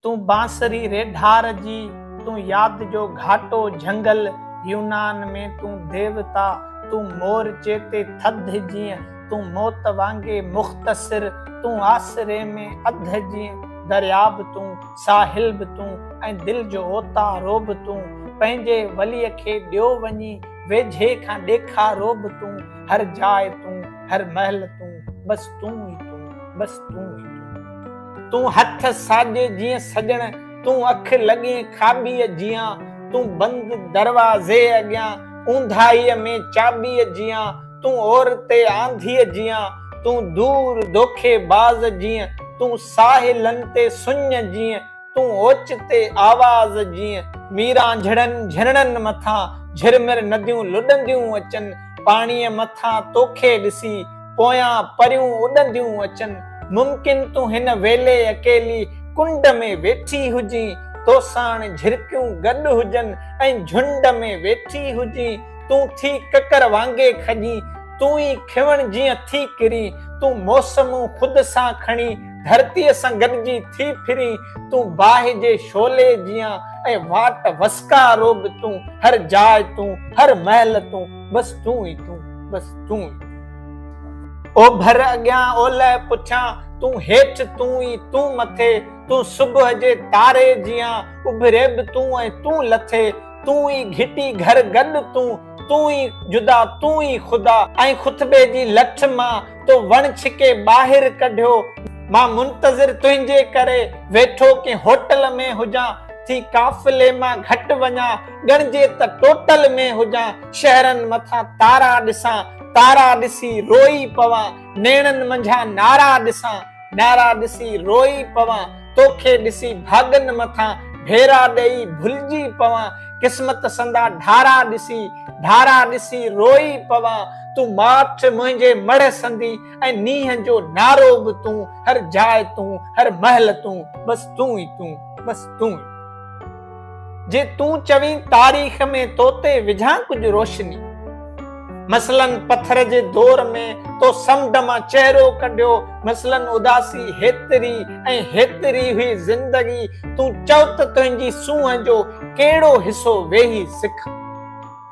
تون بانسري ري ڍار جي، تون ياد جو گهاٽو جهنگل، يونان ۾ تون ديوتا، تون مور چيتي ٿڌ جيئن، تون موت وانگي مختصر، تون آسري ۾ اڌ جيئن، دريا به تون، ساحل به تون، ۽ دل جو اوتا رو به تون، پنهنجي وليء کي ڏيو وڃي، ويجهي کان ڏيکا رو به تون، هر جاء تون، هر مهل تون، بس تون ئي تون، بس تون ئي تون. تون هٿ ساڄي جيئن سڄڻ، تون اک لڳين کاٻيء جيان، تون بند دروازي اڳيان، اونداهيء ۾ چاٻيء جيان، تون عورتي آنڌيء جيان، تون دور دوکي باز جيئن، تون ساحلن تي سڃ جيئن، تون اوچتي آواز جيئن. ميرانجهڙن جهرڻن مٿان جهرمر نديون لڏنديون اچن، پاڻيء مٿان توکي ڏسي، پويان پريون اڏنديون اچن، ممڪن تون هن ويلي اڪيلي ڪنڊ ۾ ويٺي هجين، توساڻ جهرڪيون گڏ هجن ۽ جهنڊ ۾ ويٺي هجين، تون ٿي ڪڪر وانگي کڄين، تون ئي کيوڻ جيئن ٿي ڪرين، تون موسمون خود سان کڻي ڌرتيء سان گڏجي ٿي ڦرين، تون باهه جي شعلي جيان ۽ واٽ وسڪارو به تون، هر جاء تون، هر مهل تون. بس تون ئي تون بس تون ئي اوڀر اڳيان اولهه پٺيان تون هيٺ تون ئي تون مٿي تون صبح جي تاري جيان اڀري به تون ۽ تون لٿي تون ئي گهٽي گهر گڏ تون تون ئي جدا تون ئي خدا ۽ خطبي جي لٺ مان تو وڻ ڇڪي ٻاهر ڪڍيو مان منتظر تنهنجي ڪري ويٺو ڪنهن هوٽل ۾ هجان ٿي قافلي مان گهٽ وڃان ڳڻجي ته ٽوٽل ۾ هجان شهرن مٿان تارا ڏسان تارا ڏسي روئي پوان نيڻن منجهان نارا ڏسان نارا ڏسي روئي پوان توکي ڏسي ڀاڳن مٿان ڀيرا ڏئي ڀلجي پوان قسمت سندا ڍارا ڏسي ڍارا ڏسي روئي پوان تون ماٺ منهنجي مڙهه سندي ۽ نينهن جو نارو به تون هر جاء تون هر مهل تون بس تون ئي تون بس تون ئي جي تون چوين تاريخ ۾ تو تي وجهان ڪجهه روشني مثلاً پٿر جي دور ۾ تو سمنڊ مان چهرو ڪڍيو مثلاً اداسي هيتري ۽ هيتري هئي زندگي تون چؤ ته تنهنجي سونهن جو ڪهڙو حصو ويهي سک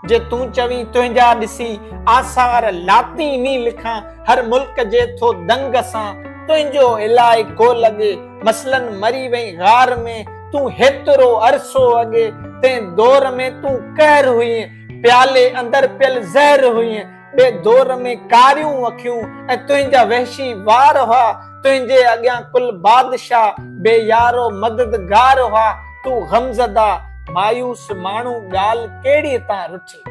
جي تون چوين تنهنجا ڏسي آثار لاطيني لکان هر ملڪ جي ٿو دنگ سان تنهنجو الائي ڪو لڳي مثلاً مري وئين غار ۾ تون هيترو عرصو اڳي تنهن دور ۾ تون قهر هئين پيالي اندر پيل زهر هئين ٻئي دور ۾ ڪاريون اکيون ۽ تنهنجا وحشي وار هئا، تنهنجي اڳيان ڪل بادشاهه بي يار و مددگار هئا، تون غمزده، مايوس ماڻهو ڳالهه ڪهڙيء تان رٺي.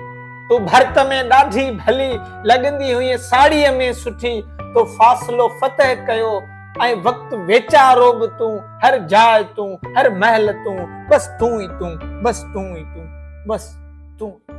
تون ڀرت ۾ ڏاڍي ڀلي لڳندي هئين ساڙهيء ۾ سٺي، تو فاصلو فتح ڪيو ۽ وقت ويچارو به تون، هر جاء تون، هر مهل تون، بس تون ئي تون، بس تون ئي تون، بس تون ئي تون.